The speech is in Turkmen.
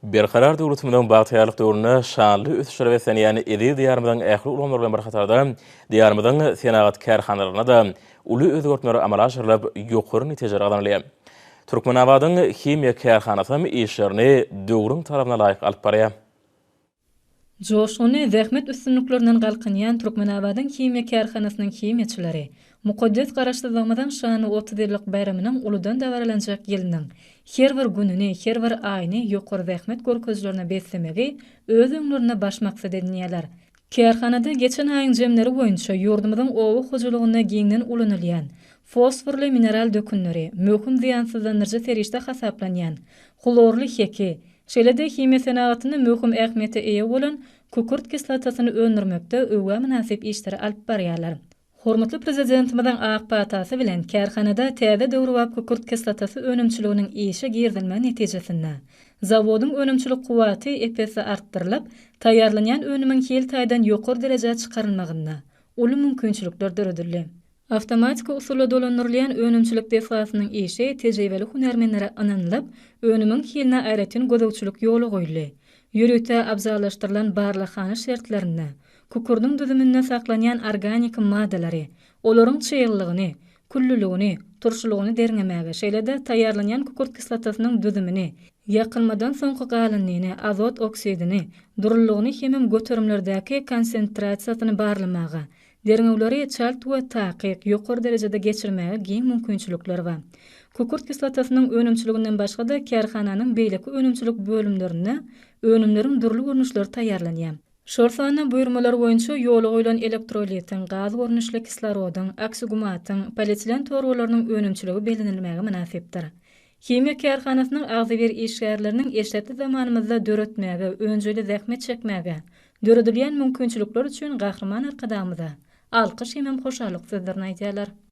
Berkarar döwletimiziň bagtyýarlyk döwründe şanly ösüşlere beslenýän eziz Diýarymyzyň ähli ulgamlary bilen bir hatarda, Diýarymyzyň senagat kärhanalarynda-da uly özgertmeler amala aşyrylyp, ýokary netijeler gazanylýar. Türkmenabadyň himiýa kärhanasy hem işlerini döwrüň talabyna laýyk alyp barýar. Joşgunly zähmet üstünliklerinden galkynýan Türkmenabadyň himiýa kärhanasynyň himiýaçylary mukaddes Garaşsyzlygymyzyň şanly otuz ýyllyk baýramynyň uludan dabaralanjak ýylynyň her bir gününi, her bir aýyny ýokary zähmet görkezilerine beslemegi öz öňlerinde baş maksat edinýärler. Kärhanada geçen aýyň jemleri boýunça ýurdumyzyň oba hojalygynda giňden ulanylýan fosforly mineral dökünleri, möhüm zyýansyzlandyryjy serişde hasaplanýan hlorly heki, Şeýle-de himiýa senagatynda möhüm ähmiýete eýe bolan kükürt kislotasyny öndürmekde öwgä mynasyp işleri alyp barýarlar. Hormatly Prezidentimiziň ak patasy bilen kärhanada täze döwrebap kükürt kislotasy önümçiliginiň işe girizilmegi netijesinde, zawodyň önümçilik kuwwaty ep-esli artdyrylyp, taýýarlanýan önümiň hil taýdan ýokary derejä çykarylmagynda uly mümkinçilikler döredildi. Awtomatiki usulda dolandyrylýan önümçilik desgasynyň işi tejribeli hünärmenlere ynanylyp, önümiň hiline aýratyn gözegçilik ýola goýuldy. Ýörite abzallaşdyrylan barlaghana şertlerinde, kukurdyň düzüminde saklanýan organiki maddalary, olaryň çyglylygyny, küllüligini, turşulygyny derňemäge, şeýle-de taýýarlanýan kükürt kislotasynyň düzümini, ýakylmadan soňky galyndyny, azot oksidini, durulylygyny hemem göterimlerdäki konsentrasiýasyny barlamaga, Derňewleri çalt we takyk, ýokary derejede geçirmäge giň mümkinçilikler bar. Kükürt kislotasynyň önümçiliginden başga-da kärhananyň beýleki önümçilik bölümlerinde önümleriň dürli görnüşleri taýýarlanýar. Şol sanda buýurmalar boýunça ýola goýlan elektrolitiň, gaz görnüşli kislorodyň, oksigumatyň, polietilen torbalarynyň önümçiligi bellenilmäge mynasypdyr. Himiýa kärhanasynyň agzybir işgärleriniň eşretli zamanymyzda döretmäge, önjeýli zähmet çekmäge, döredilýän mümkinçilikler üçin Gahryman Arkadagymyza alkyş hemem hoşallyk sözlerini aýdýarlar.